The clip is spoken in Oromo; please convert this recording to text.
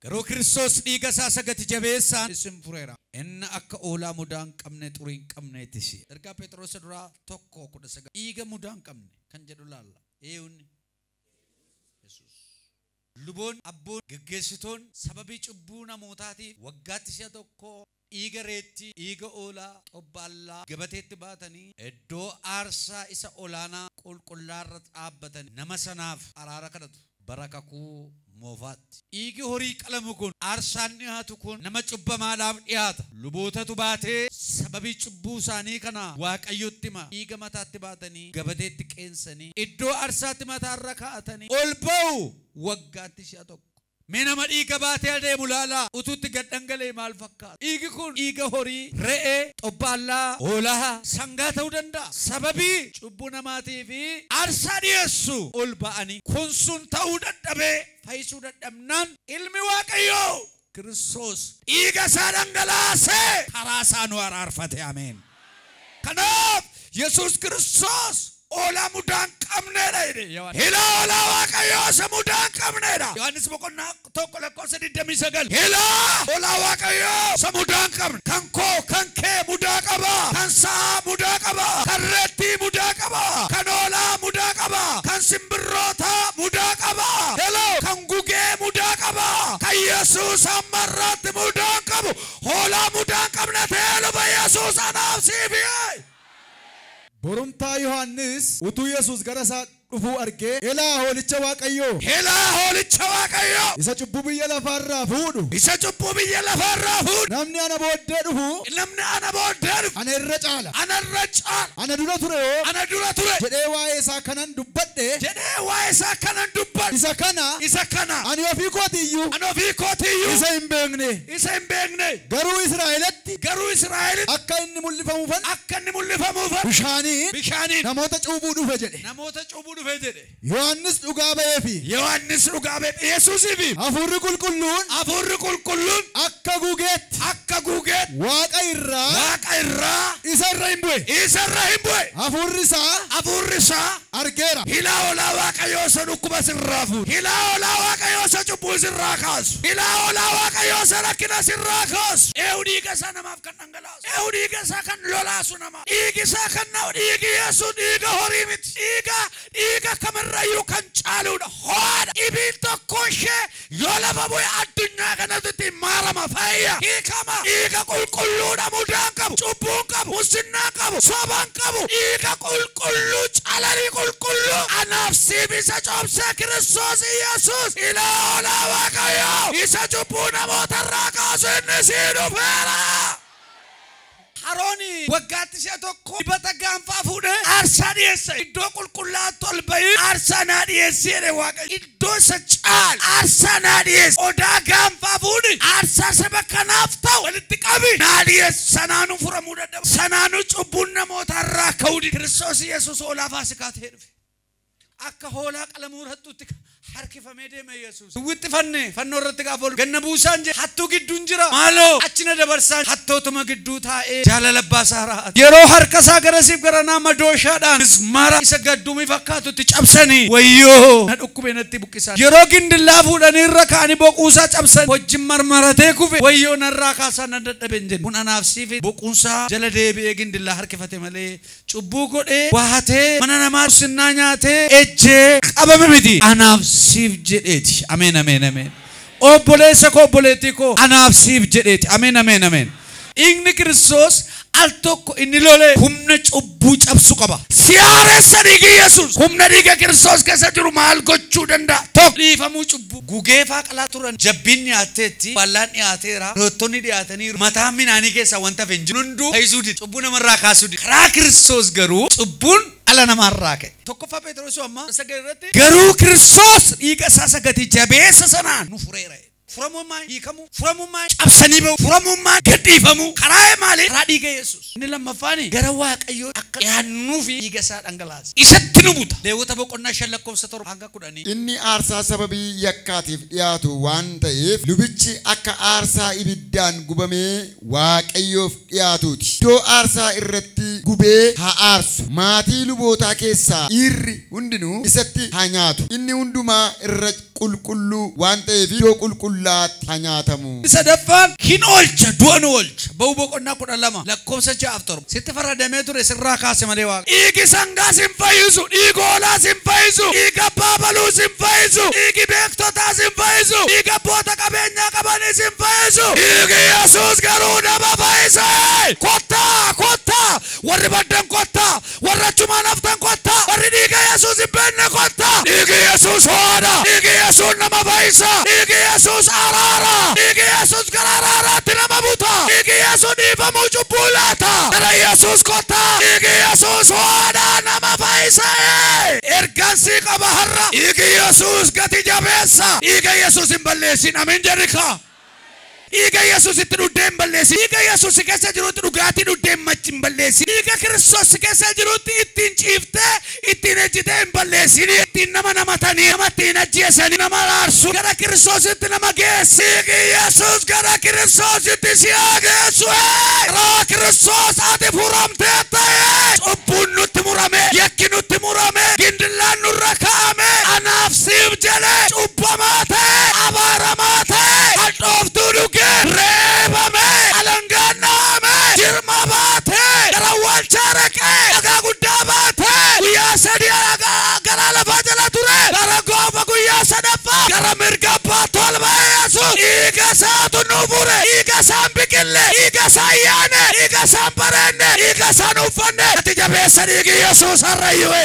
Garuu Kiristoos dhiiga isaa isa gati jabeessaan isin fureera. Inni akka hoolaa mudaa hin qabne xurii hin qabneeti si. Ergaa Pheexroos duraa tokko kudha sagal. Dhiiga mudaa hin qabne kan jedhu laalla. Eewni Yesuus. Luboonni, abboonni, geggeessitoonni sababii cubbuu namootaatiif waggaatti si'a tokko Dhiiga reettii, dhiiga hoolaa, xobbaallaa, gabateetti baatanii iddoo aarsaa isa olaanaa qulqullaa irra dhaabbatanii nama sanaaf araara kadhatu. Bara Kakuu Moofaatti. Dhiigi horii qalamu kun, aarsaan dhihaatu kun nama cubbamaadhaaf dhihaata. Lubootatu baatee sababii cubbuu isaanii kanaa Waaqayyotti hima. Dhiiga mataatti baatanii gabateetti qeensanii iddoo aarsaatti mataa irra kaa'atanii ol ba'u. Waggaatti si'a tokko. Mee nama dhiiga baatee adeemu ilaalaa! Utuu itti gad dhangala'ee maal fakkaata? Dhiigi kun dhiiga horii, re'ee, xobbaallaa, hoolaa, sangaa ta'uu danda'a. Sababii cubbuu namaatiif aarsaa dhi'eessu ol ba'anii. Kun sun ta'uu dadhabee fayyisuu dadhabnaan Ilmi Waaqayyoo Kiristoos dhiiga isaa dhangalaasee karaa isaa nu araarfate. Ameen! Kanaaf Yesuus Kiristoos hoolaa mudaa hin qabnee dha jedhe Yohaannis. Ilaa hoolaa Waaqayyoo isa mudaa hin qabnee dha. Yohaannis boqonnaa 1 lakkoofsa 29. Ilaa hoolaa Waaqayyoo isa mudaa hin qabne. Kan koo, kan kee mudaa qaba. Kan sa'aa mudaa qaba. Kan reettii mudaa qaba. Kan hoolaa mudaa qaba. Kan simbirrootaa mudaa qaba. Hello! Kan gugee mudaa qaba. Kan Yesuus amma har'aatti mudaa hin qabu. Hoolaa mudaa hin qabne ta'ee dhufe Yesuus anaaf siif Yee! Borumtaa Yohaannis utuu Yesuus gara isaa dhufuu argee, Elaa hoolicha Waaqayyoo! Elaa hoolicha Waaqayyoo! Isa cubbuu biyya lafaa irraa fuudhu! Isa cubbuu biyya lafaa irraa fuudhu! Namni ana booddee dhufu. Namni ana booddee dhufu. ana irra caala. ana irra caala. Ana dura ture hoo. ana dura ture. jedhee waa'ee isaa kanan dubbadhe. jedhee waa'ee isaa kanan dubbadhe. isa kana. isa kana. ani ofii kootii iyyuu. ani ofii kootii iyyuu. isa hin beekne. isa hin beekne. Garuu Israa'elitti. garuu Israa'elitti. akka inni mul'ifamuufan. akka inni mul'ifamuufan. bishaaniin. bishaaniin. namoota cuuphuu dhufe jedhe. namoota cuuphuu dhufe jedhe. Yohaannis dhugaa ba'ee fi. Yohaannis dhugaa ba'e fi Yesuusii fi. Hafuurri Qulqulluun. Hafuurri Qulqulluun. akka gugeetti. akka gugeetti. Waaqa irraa. Waaqa irraa. isa irra in bu'e. isa irra in bu'e. Hafuurri isaa. Hafuurri isaa. argeera. Ilaa hoolaa Waaqayyoo isa dhukkuba sirraa fuudhu. Ilaa hoolaa Waaqayyoo isa cubbuu sirraa kaasu. Ilaa hoolaa Waaqayyoo isa rakkina sirraa kaasu. Eehu dhiiga isaa namaaf kan dhangalaasu. Eehu dhiiga isaa kan lolaasu namaaf. Dhiigi isaa kan na'u dhiigi Yesuus dhiiga horii miti. Dhiiga dhiiga kamirrayyuu kan caaluudha. Ho'aadha. Dhibiin tokkoo ishee Yoo lafa bu'e addunyaa kanartiti maarama, fayya, hiikama, dhiiga qulqulluudha mudaa hin qabu, cubbuu hin qabu, mussinnaa hin qabu, soba hin qabu, dhiiga qulqulluu, calalii qulqulluu anaaf siif isa coobsee Kiristoos Iyyasuus ilaa hoolaa Waaqayyoo isa cubbuu namootarraa kaasu inni sii dhufeera! Aroon waggaatti si'a tokko dibata gaanfaa fuudhee aarsaa dhi'eessa. Iddoo qulqullaa'aatti ol ba'ii aarsaa naa dhi'eessi jedhe Waaqayyo. Iddoo isa caalu aarsaa naa dhi'eessi. Qodaa gaanfaa fuudhi, aarsaa saba kanaaf ta'u walitti qabi naa dhi'eessi. Sanaanuu furamuu dadhaba. Sanaanuu cubbuun namootaa irraa ka'uu dide. Kiristoos Yesuus hoolaa faasikaa ta'ee dhufe. Akka hoolaa qalamuu rattuutti ka- harkifamee deeme Yesuus. Duwwitti fanne fannoo irratti gaafa ol ganna buusaan jedhe hattuu gidduun jira maaloo achi na dabarsaan hattootuma gidduu taa'ee jaalala abbaa isaa raa'ate. Yeroo harka isaa garasiif garanaa madooshaadhaan mismaara isa gadduumii fakkaatutti cabsanii wayyoo na dhukkube natti buqqisaan. Yeroo gindillaa fuudhanii irra kaa'anii boquusaa cabsan wajjin marmaratee kufe wayyoo narraa kaasaa nan dadhabe hin jenne. Kun anaaf siif boquunsaa jala deebi'ee gindillaa harkifate malee Cubbuu godhee, wahatee, mana namaa mussinnaa nyaatee, ejjee, qabame miti. Anaaf siif jedheeti. Ameen Ameen Ameen. Obboleessa koo obboleettii koo anaaf siif jedheeti. Ameen Ameen Ameen. Dhiigni Kiristoos al tokko inni lole humna cubbuu cabsu qaba. Si haaressa dhiigi Yesuus. Humna dhiiga Kiristoos keessa jiru maal gochuu danda'a? 1. Dhiifamuu cubbuu. Gugee faa qalaa turan. Jabbiin dhiyaatteetti. Ballaan dhiyaateera. Roottonni dhiyaataniiru. Mataan midhaanii keessaa wanta hafe hin jiru. Hunduu fayyisuu dide. Cubbuu namarraa kaasuu dide. Karaa Kiristoos garuu cubbuun dhala namaarraa ka'e. 1ffaa Pheexiroos amma 9 irratti. Garuu Kiristoos dhiiga isaa isa gati jabeessa sanaan nu fureera jedhe. Furamuun maali? Hiikamuu. Furamuun maali? Cabsanii ba'uu. Furamuun maali? Gad dhiifamuu. Karaa maali? Karaa dhiiga Yesuus. Inni lammaffaani gara Waaqayyootti akka dhiyaannuufi dhiiga isaa dhangalaase. Isatti nu buta. Lewwota boqonnaa 5 lakkoofsa 7 hanga 10. Inni aarsaa sababii yakkaatiif dhiyaatu waan ta'eef lubichi akka aarsaa ibiddaan gubamee Waaqayyoof dhi'aatuuti. Iddoo aarsaa irratti gubee haa aarsu, maatii lubootaa keessaa dhiirri hundinuu isatti haa nyaatu, inni hundumaa irra qulqulluu waan ta'eef iddoo qulqullaa'aatti haa nyaatamu. Inni sadaffaan hin oolcha, du'a ni oolcha. Ba'uu boqonnaa 12 lakkoofsa 6 fi 7. Sitti faradamee ture, sirraa kaase malee Waaqayyo. Dhiigi sangaa sin fayyisu, dhiigi hoolaa sin fayyisu, dhiigi abbaa abaluu sin fayyisu, dhiigi beektotaa sin fayyisu, dhiigi abboota qabeenyaa qabanii sin fayyisu, dhiigi Yesuus garuu nama fayyisa! Kottaa! Kottaa! Warri baddan kottaa! Warri achumaan haftan kottaa! Warri dhiiga Yesuus hin beekne kottaa! Dhiigi Yesuus ho'aadha! Dhiigi Yesuus nama fayyisa! Dhiigi Yesuus araara! Dhiigi Yesuus Gara araaraatti nama buta. Dhiigi Yesu dhiifamuu cubbuu laata. Gara Yesus kottaa. Dhiigi Yesus ho'aadha nama fayisa ee. Ergan si qaba har'a. Dhiigi Yesus gati jabeessa. Dhiiga Yesus hin balleessin Ameen jedhi kaa. Dhiiga Yesus itti dhuddee hin balleessin. Dhiiga Yesus si keessa jirutti dhugaatii dhuddee hin balleessin. Dhiiga Kristos si keessa jirutti ittiin ciiftee Ittiin ejjitee hin balleessin. Ittiin nama namatanii nama ittiin hin ajjeesanii nama araarsu gara kiristoositti nama geessi. Dhiigi Yesuus gara kiristoositti si haa geessu. Ee! Karaa kiristoos ati furamteetta. Ee! Cubbuun nutti murame, yakki nutti murame, gindillaan nurra kaa'ame. Anaaf siif jedhee cubbamaa ta'e, abaaramaa ta'e, hadhooftuu dhugee, reebame, alangaan dha'ame, jirma baate, gara awwaalchaa dhaqee, dhagaa addaa baatee guyyaa sadii alagaa garaa lafaa jala ture gara goofa guyyaa sadaffaa gara mirga abbaatti ol ba'e Yesuus dhiiga isaatu nu fure dhiiga isaan biqille dhiiga isaan yaane dhiiga isaan bareenne dhiiga isaan uffanne ati jabeessa dhiigi Yesuus har'ayyuu